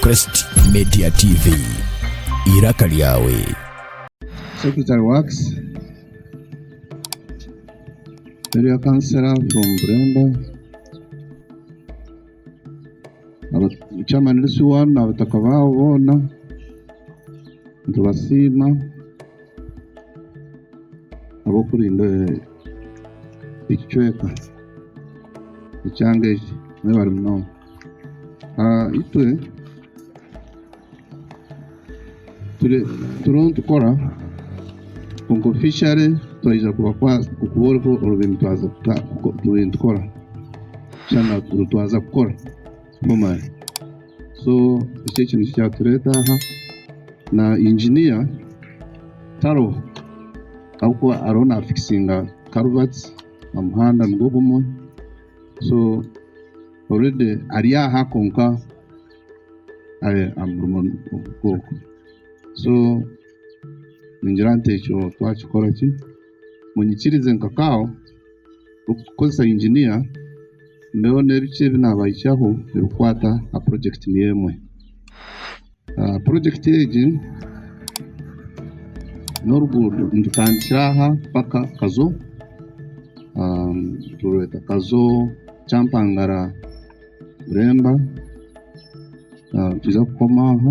Crest Media TV, eiraka lyawe. Secretary Works, Area Councillor from Buremba, Chairman LC1 na Abataka baabo boona nitubasiima. ahabw'okurinda ekicweka ekyanga eki nibyo bari munonga. Itwe turiho nitukora kwonka ofishale twija kubakwasa kuba oriho orikubaasa kuturinda twaaza kukora. Omani. So eki eki nikyo kyatureeta aha na inginiya taroho ahabw'okuba ariho nafikisinga karuvati omuhanda nigwo gumwe so oredi ari aha kwonka ari aha murimo gw'oku so ningira nti ekyo twakikora ki Munyikirize nka kaaho okukoresa inginiya ndeebe oreeba biki ebi naabahikiyaho ebikukwata aha purojekiti niyo emwe. Purojekiti egi n'oruguuto nitutandikira aha mpaka Kazo, niturweta Kazo, Kyampangara, Bureemba, nitwiija kukoma aho.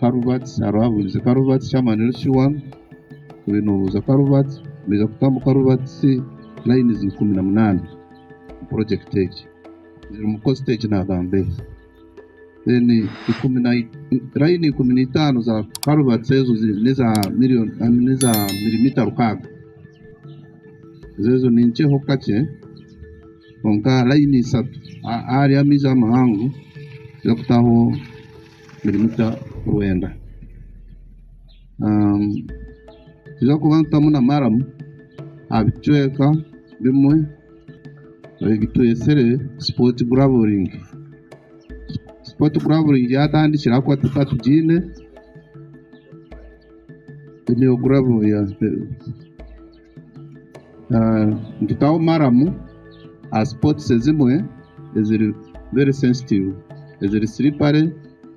Karuvatsi hariho abuurize Karuvatsi chairman Richie Wang oriyo nobuuza Karuvatsi baiza kutamu Karuvatsi lines ikumi na munaana omu project egi zirimu kukoza stage nagamba ebi then ikumi na line ikumi na itaano za Karuvatsi ezo zi- neza million ah, neza milimita rukaaga zezo ninkyeho kakye kwonka line isatu a- ahari amaizi amahango zirikutaho birimu kya kwenda. Ninza kuba ntamu na maramu aha bicweka bimwe ebitwetsire sipoti guraburingi. Sipoti guraburingi yatandikire ahabw'okuba tuka tugiine mpitaho maramu aha sipotisi ezimwe eziri veri sensitivu eziri siripare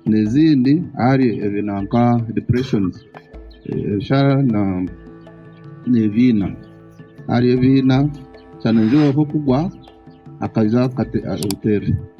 n'ezindi ahari ebintu nka dipureshonizi ebishara n'ebiina. Ahari ebiina nshana ningira oruho kugwa akaija akateera.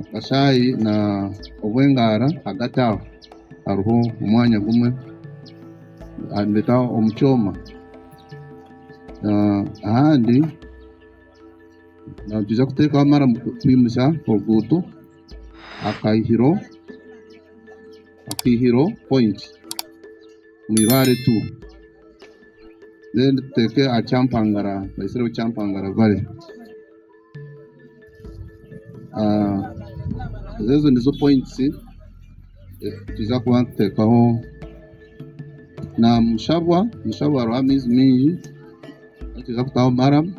Akashaayi na obw'engaara hagati aho hariho omwanya gumwe nibeta omu kyoma ahandi nituza kuteekaho mara kwimisa oruguuto akaihiro akaihiro point omu eibaare tool then tuteeke aha kyampangara tubaisireho kyampangara valley. Ezo nizo pointisi twiija kuba nituteekaho. Na Mushabwa, Mushabwa hariho amaizi maingi agu twiija kutaho maramu.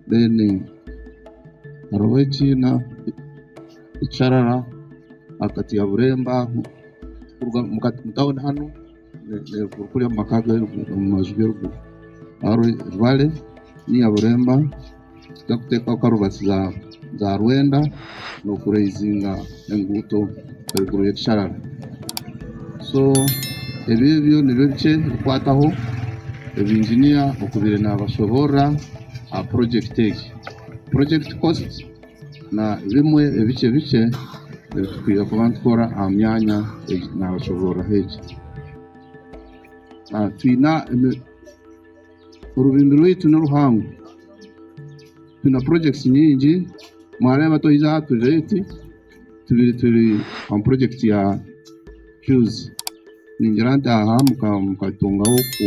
Deeni hariho eki ekisharara ahagati ya Bureemba kuruga omu tauni hanu. Kuriya omu maka omu maju g'eruguru hariho ebibare nainga buremba tutakuteekaho karubatsi za rwenda nokurezinga enguuto eruguru y'ekisharara so ebyo ebyo nibyo bikye ebikukwataho ebinginiya okubaire nabashoboorora aha purojekiti egi. na bimwe ebikye bikye ebi turikwija kuba nitukora aha myanya ei naabasobororeraho egi. Twine orurembe rwaitu niruhango, twine purojekiti nyingi, mwareeba twija aha tureeti tubaire turi aha purojekiti ya fiyuzi, ningira nti aha mukatungaho ku...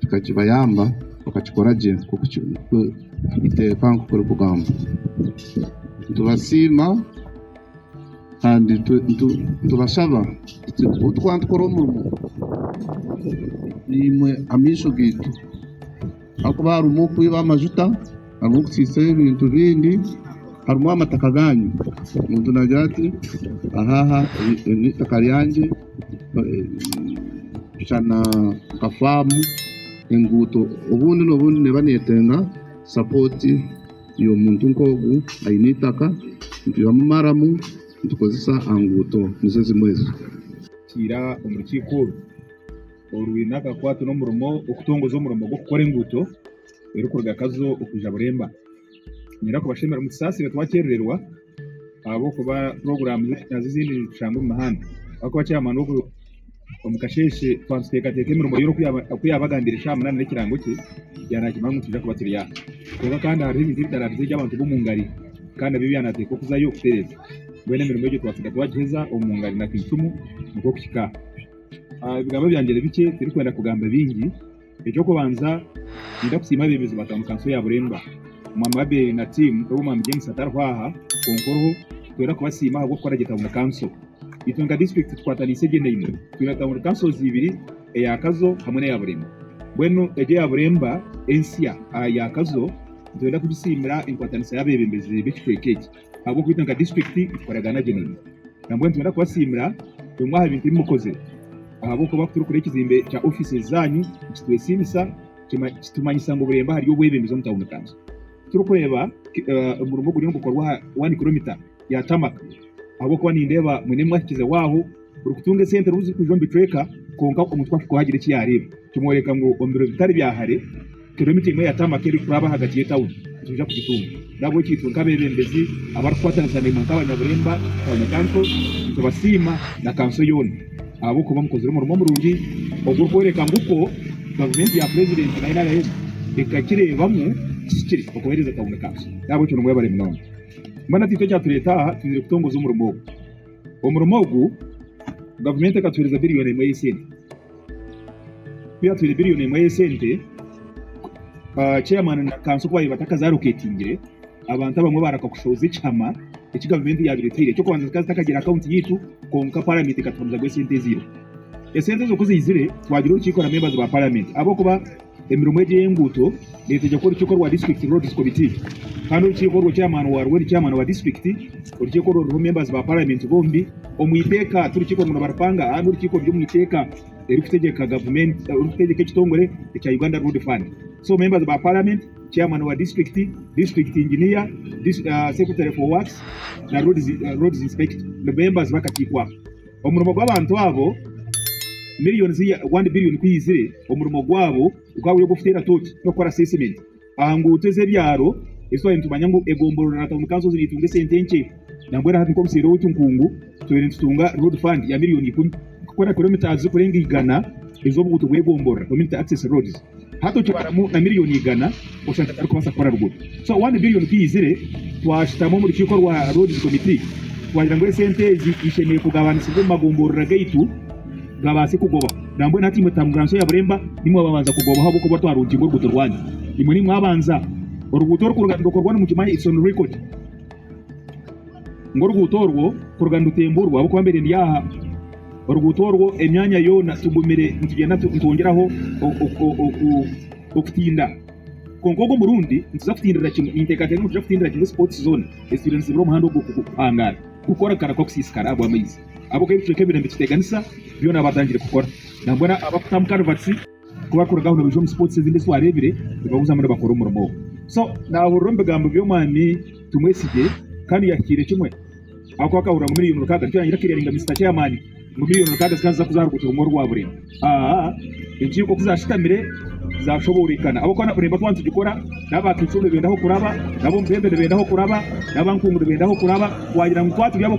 Kikakibayamba bakakikora gye nk'oku eiteeka ekugamba. Nitubasiima kandi nitubashaba ngu obu turikuba nitukora omurimo naimwe amaisho gaitu ahakuba harimu okwiba amajuta. Ahabw'okutsiitsa ebintu bindi harimu amataka gaanyu, omuntu naagira ati, Ahaaha eri n'eitaka ryangye, shana nka faamu, enguuto. Obundi n'obundi neeba neetenga sapooti y'omuntu nk'ogu aine eitaka, nitwihamu maramu nitukozesa aha nguuto. Nizo zimwe ezo. Kiira omu rukiiko oru orwine akakwate n'omurimo okutongoza omurimo gw'okukora enguuto. erikuruga Kazo okuza Buremba. Ninyenda kubashemera mutusaasire twakyerererwa ahabw'okuba puroguramu nazo ezindi nizitushanga omu muhanda. Ahabw'okuba chairman w'oku omu kasheeshe twaatuteekateeka emirimo yoona oku yaaba oku yaabagambiire shaaha munaana n'ekirango kye, yaanaakimanya ngu nitwija kuba turi aha. Kwonka kandi hariho ebintu ebitaraabizire gye abantu b'omu ngari kandi nabyo byanaateeka okuzayo kutereeza. Mbwenu emirimo egyo twaasiga twagiheza omu ngari na Kaishumu nikwo kuhika aha. Ebigambo byangye ni bikye, tirikwenda kugamba bingi. Eky'okubanza ninza kusiima abeebezi ba Tauni Kanso ya Buremba, Omwaami Abel na tiimu n'obu Omwaami James atariho aha, kwonka oriho, twena kubasiima ahabw'okukora gye Tauni Kanso. Itwe nka disiturikiti tukwataniise gye naimwe, twine Tauni Kansozi ibiri, eya Kazo hamwe n'eya Buremba. Mbwenu egyo eya Buremba ensya aha ya Kazo, nitwenda kugisiimira enkwataniisa y'abeebembezi b'ekicweka eki. ahabw'okuba itwe nka disiturikiti nitukoragana gye nanye nambwenu nitwenda kubasiimira bimwe aha bintu ebi mukozire ahabw'okuba ku turikureeba ekizimbe kya ofiisi zaanyu nikitwesiimisa kitumanyisa ngu Bureeba hariyo obwebembezi omu tauni kanso turikureeba omurimo oguriyo nigukorwa aha waani kiromita ya taamaka ahabw'okuba nindeeba mwine mwahikize waaho. Orikutunga esente niho zirikuza omu bicweka kwonka omuntu ku ahika oha agira eki yaareeba. Kimworeka ngu omu biro bitari bya hare, kiromita emwe ya tamaka erikuraba ahagati y'etauni nituija kugitunga. N'ahabw'ekyo itwe nk'abeebembezi abarikukwatanisa naimwe nk'abanyaburemba, Town Council, nitubasiima na kanso yoona ahabw'okuba mukozire omurimo murungi ogurikworeka ngu okwo gavumenti ya Purezidenti na nrm ekakireebamu kihikire okuheereza Town Council. N'ahabw'ekyo nimwebare munonga. Mbwenu hati itwe ekyatureeta aha, twiniire kutongoza omurimo ogu. Omurimo ogu gavumenti ekatuheereza biriyoni emwe y'esente. Ku yaatwire biriyoni emwe y'esente, chairman na kanso ku baabaire batakazaarokeetingire, abantu abamwe baareka kushohoza ekihama eki gavumenti yaabaire etaire. Eky'okubanza zikaba zitakagira akaunti yaitu, kwonka paramenti ekatuhamizamu esente ezairiho. Esente ezo ku zaizire, twagira orukiiko na members ba paramenti ahabw'okuba, Emirimo egyo ey'enguuto neetegyekwa orukiiko rwa District Roads Committee kandi orukiiko orwo chairman waarwo ni chairman wa district. Orukiiko orwo ruriho members ba parliament bombi omu iteeka tirukiiko rumuno baripanga ahari n'orukiiko ruri omu iteeka eririkutegyeka gavumenti eririkutegyeka ekitongore ekya Uganda Road Fund. So members ba parliament, chairman wa district, district engineer, secretary for works na roads inspector nibo members b'akakiiko ako. Omurimo gw'abantu abo milioni zi rwandi bilioni ku yaizire, omurimo gwabo gukaba guri ogw'okuteera tooki n'okukora asesimenti aha nguuto ez'ebyaro ezi twaba nitumanya ngu egomboloora na tauni kanso nizitunga esente nkye. Nambwenu hati nk'obuseeri obu Tunkungu, tubaire nitutunga road fund ya milioni ikumi kukora kiromitaazi zirikurenga igana ez'obuguuto bw'egomboloora, community access roads. Hati okibaramu na miriyoni igana oshanga atarikubaasa kukora ruguuto. So one billion ku yaizire, twashutama omu rukiiko rwa Roads Committee twagira ngu esente ezi ishemereire kugabanisibwa omu magomborora gaitu gabaase kugobaho. Nambwenu hati imwe Tamuranso ya Buremba nimwe ababanza kugobaho ahabw'okuba twarungirwe oruguuto rwanyu. Imwe nimwe abanza. Oruguuto oru kuruga nirukorwa nimukimanya it's on record ngu oruguuto orwo kuruga nirutemburwa ahabw'okuba mbaire ndi aha. Oruguuto orwo emyanya yoona tugumire nitugenda nitwongyeraho okutinda. Kwonka ogwo murundi nituza kutindirira kimwe. Ninteekateeka ngu nituza kutindirira kimwe spots zoona ezitwire nizibura omuhanda ogwo kuhangaara kukora kukareka kusiisikara ahabw'amaizi ahabw'okuba ebicweka ebiraire nibikiteganisa byona byatandikire kukora nambwenu abarikuta omu culverts. Ku bakuruga aho nibaija omu sports ezindi ezi twareebire, nibaguzamu nibakora omurimo ogwo. So, naahurira omu bigambo by'Omwami Tumwesigye kandi yahikiire kimwe ahakuba akahurira ngu milioni mukaaga nikyo yaagira akeeringa Mister Chairman ngu milioni mukaaga zikaba niziza kuza aha ruguuto rumwe orwa Burengo. Aa, enkiiko ku zaashutamire zaashoboorekana ahabw'okuba nakureeba twaba nitugikora, n'abaakaikuru nibenda aho kuraba, n'ab'omu beebe nibenda aho kuraba, n'aba nkungu nibenda aho kuraba, waagira ngu twaturi abo.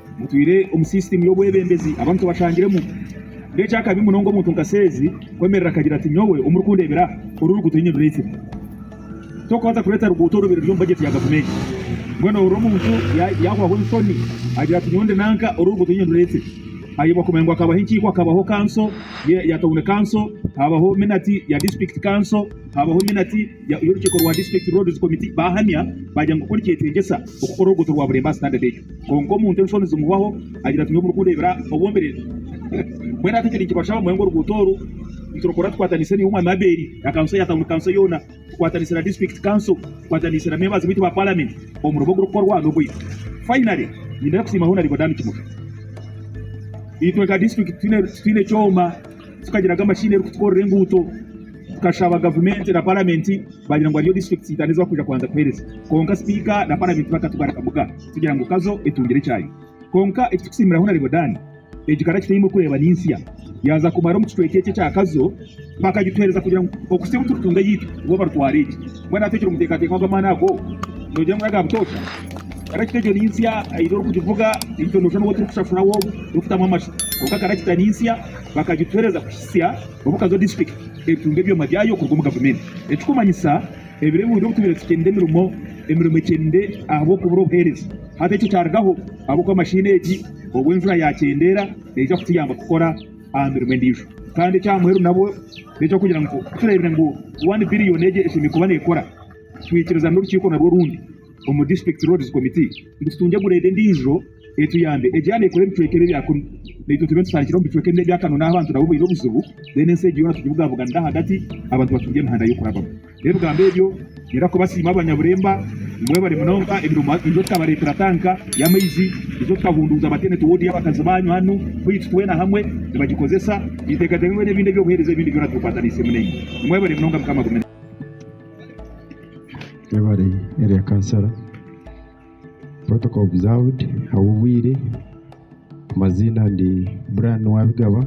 Mutwire omu sisitiimu y'obwebembezi abantu bashangiremu. N'ekyakabi munonga omuntu nka Seezi kwemerera akagira ati, Nyowe omurikundeebera aha, oru oruguuto niinye ndureetsire. Tokubaasa kureeta ruguuto orubiri ruri omu bajeti ya gavumenti. Mbwenu ohurira omuntu yaahwaho enshoni agira ati, Nyowe ndi nanka, oru oruguuto niinye ndureetsire. Hareebwa kumanya ngu hakabaho enkiiko, hakabaho kanso ya tauni kanso, haabaho minati ya disiturikiti kanso, haabaho minati y'orukiiko rwa disiturikiti, roodizi komiti, baahamya baagira ngu kukora ekyetengyesa okukora oruguuto rwa Bureemba aha sitandadi egyo. Kwonka omuntu enshoni zimuhwaho agira ati nyowe murikundeebera obwombereeri mbwenu hati ekyo nikibasha bamanye ngu oruguuto oru niturukora tukwatanise naiwe Omwami Abbeeri na kanso ya tauni kanso yoona tukwatanise na district kanso tukwatanise na members baitu ba palamenti omurimo ogurikukorwa nogwaitu. Finally nyine kusiima Honarebo Dan Kimuhe itwe nka district titwine kyooma. tukagiraga amashini erikutukorera enguuto tukashaba gavumenti na paramenti bagira ngu hariyo disiturikiti itano ezibarikuza kubanza kuhereza kwonka sipiika na paramenti bakatugarika muka tugira ngu kazo etungire ekyayi kwonka ekitukusiimiraho na Ribodani egi kara kitaine kureeba ninsya yaaza kumara omu kicweka eki ekya kazo bakagituhereza kugira ngu okusya obu turikutunga eyaitu bo barutwara egi mbwenu hati ekiri omuteekateeka ogw'amaani ago nogira ngu n'aga butoosha kara kita egyo ninsya haine orikugivuga itwe noshusha n'owoturikushashura wobu orikutamu amasho kwonka kara kita ninsya bakagituhereza kuhitsya obu Kazo District eritunga ebyoma byayo kuruga omu gavumenti, ekikumanyisa ebiro ebiwenda obutubire tukyende emirimo emirimo ekyende ahabwokubura obuhereza. Hati ekyo kyarugaho ahabwokuba mashini egi obu enjura yakyendeera neija kutuyamba kukora aha mirimo endiijo kandi ekyamuheru nabwo nekyokugira ngu tureebire ngu One Billion egi eshemereire kuba nekora twikiriza norukiiko narwo orundi omu District Roads Committee ngu tutungye gurade endiijo. Etuyambe. Egyo yaaba nekora ebicweka ebyo ebya kunu, naitwe tube nitutandikira omu bicweka ebi ebya kanu n'ahu abantu nabo baine obuzibu, then ensi egyo yoona tugibugabuganire ahagati, abantu batungye emihanda y'okurabamu. N'ebigambo ebyo ngira kubasiima abanyaburemba, nimwebare munonga emirimo niija kukabareetera tanka y'amaizi, niija kukahunduuza maternity ward y'abakazi baanyu hanu baitu twena hamwe nibagikozesa, ninteekateeka ngu n'ebindi eby'obuheereza ebindi byona tubikwataniisemu naimwe. Nimwebare munonga Mukama agume naimwe. Webare Area Councillor. Protocol observed Ahabw'obwire, amaziina ndi Brian Nuwabigaba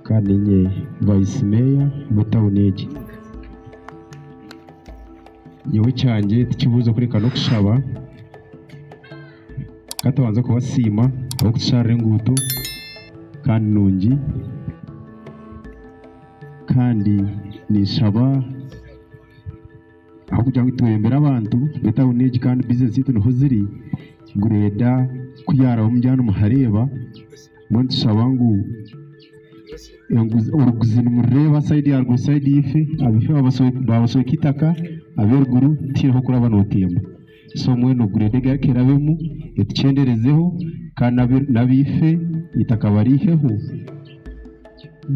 kandi niinye Vice Mayor w'etauni egi. Nyowe ekyangye tikibuuzo kureka n'okushaba, ka tubanze kubasiima ahabw'okutusharira enguuto kandi nungi kandi ninshaba ahabw'okugira ngu itweyambire abantu b'omu tauni egi kandi bizineesi zaitu niho ziri, ngu reeda ku yaarabamu omugyane muhareeba, mbwenu nitushaba ngu enguzi oruguzi nimurireeba sayidi ya ruguru sayidi ya ife, abaife baabasweka itaka, abeeruguru tihaine ahu orikuraba nootemba. Somewhere no grade egi arikuhera abemu etukyenderezeho kandi nabeife eitaka bariiheho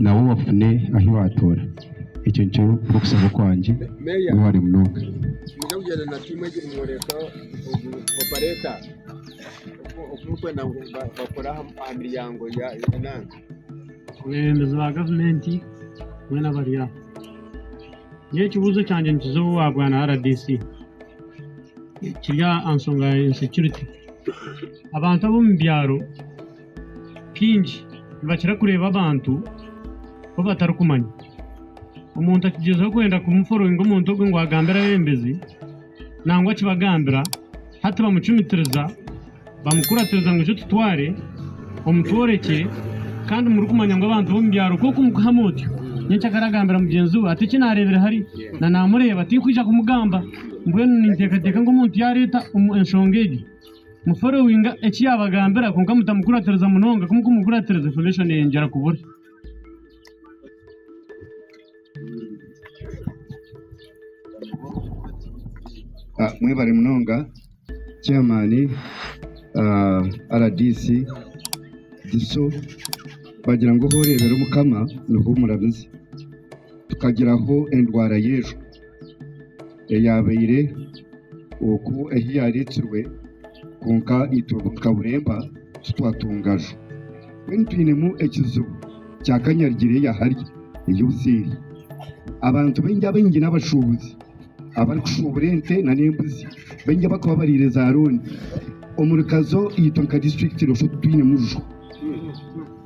nabo bafune ahu batoora ekyo nikyo kurikusaba okwangye webare munonga. Abakulembezi ba gavumenti boona bari aho nyowe ekibuzo kyangye nikiza owa bwana rdc. kiri aha nsonga ya insecurity. Abantu ab'omu byaro kaingi nibakira kureeba abantu ku batarikumanya. Omuntu akigyezaho kwenda kumu followinga omuntu ogwo ngu agambire abebembezi nangwa ki bagambira hati bamucumitiriza. Bamukuratiza ngu ija otutware omutworekye kandi murikumanya ngu abantu b'omu byaro kwonka omukuha mutyo. Nyenkya ka aragambira mugyenzi we ati, Eki naareebire hare na naamureeba tinkwija kumugamba. Mbwenu ninteekateeka ngu omuntu yaareeta enshonga egi muforowinga eki yaabagambira kwonka mutamukuratiriza munonga. Ku mukumukuratiriza infomeshoni eeyongyera kubura. Mwebare munonga. Chairman rdc Diso bagira ngu ahu oreebera omukama niho omurabize. Tukagiraho endwara y'enju eyaabaire okwo ei yaareetirwe kwonka itwe nka Buremba titwatunga nju. Mbwenu twinemu ekizibu kya kanyarigye eri ahari eyi obuseeri. Abantu baingi abaingi n'abashuubuzi. abarikushuubura ente nana embuzi baingi abarikuba bariire za rooni omuri kazo itwe nka disiturikiti noshusha oti twinemu rujo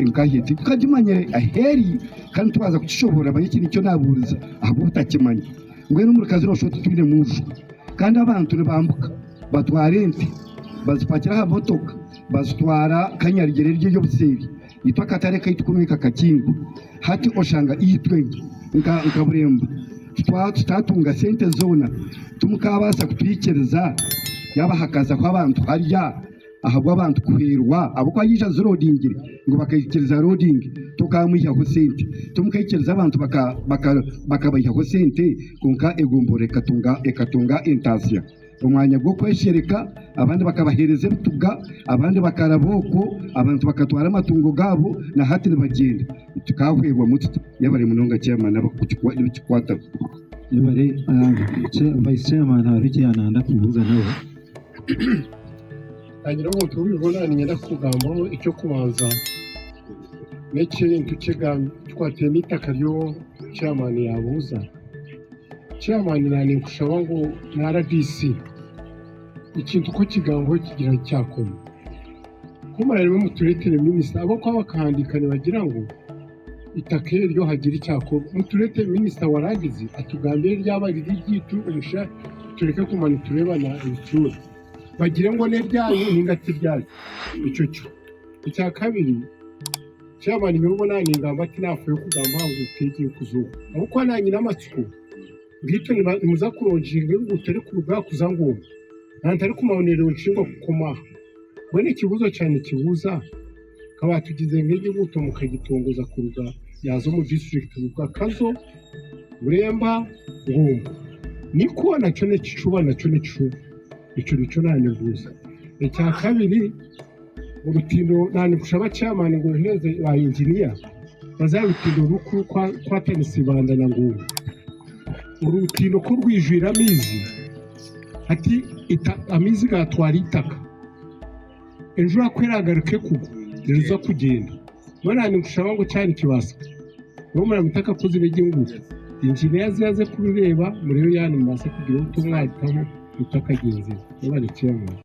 nkahe tikukagimanyire ahu eri kandi nitubaasa kukishoboorora bari eki nikyo naabuuriza ahabw'obutakimanya mbwenu omuri kazo noshusha oti twinemu rujo kandi abantu nibambuka batwara ente bazipakira aha motoka bazitwara ka nyarugyere eri ery'obuseeri itwe akatare kaitu kunu nikakakingwa. Hati oshanga itwe nka nka Burembo tutwa- tutatunga sente zoona timukaabaasa kutwikiriza yaaba hakazaho abantu harya ahabw'abantu kuhwerwa ahabw'okuba yaija azirodingire ngu bakaikiriza arodinge tokaamwihaho sente timukaikiriza abantu baka- baka- bakabaihaho sente kwonka egombolola ekatunga ekatunga entaasya. omwanya gw'okweshereka, abandi bakabaheereza ebituga, abandi bakaraba okwo, abantu bakatwara amatungo gaabo, na hati nibagyenda. Tukaahwerwamu tuta? Yebare munonga Chairman ab'okukikwataho. Yebare Vice Chairman hariho eki yaayenda kubuuza nawe. Haagira omuntu ou bibona niinyenda kukugambaho. Eky'okubanza n'ekintu kikwataine n'eitaka ry'obu Chairman yaabuuza. Chairman ninkushaba ngu na rdc ekintu ku okigambaho kigira ngu kyakoma ku murarebe muturetere minister ahabwokuba bakahandika nibagira ngu itaka eryo hagira ekyakorwa muturetere minister warangizi atugambire ryaba riri eryaitu tureke kuguma niturebana ebicura bagire ngu neryaye ninga tiryaye ekyo kimwe ekyakabiri Kyaba niinye oribo naaningamba tinaafaayo kugamba aha nguuto egi erikuza oku, ahabw'okuba naanyine amatsiko beitu nimuza kurungirira enguuto erikuruga aha kuza ng'omu, nantarikumanya neerungirwa kukoma aha. Mbwenu ekibuuzo kyangye nikibuuza, ka baatugize ngu egi enguuto mukagitongoza kuruga yaaza omu disiturikiti Ruga, Kazo, Bureemba, Ngombo, nikwo nakyo n'ekicuba? Nakyo n'ekicuba? Ekyo nikyo naanyebuuza. Ekyakabiri. Orutindo na nikushaba chairman ngu ohereze ba engineer baze aha rutindo ruri kwatanisa ibanda na ngungu orutindo ku rwijwire amaizi hati amaizi gatwara itaka enjura ku eragaruka ekugwa niriza kugyenda mbwenu na nikushaba ngu kyaba nikibasika nyowe muraba mutakakozire gye ngu engineer aze aze kurureeba murebe ya nimubasa kugira obuto mwahikaho itakagyenzire mwebare chairman.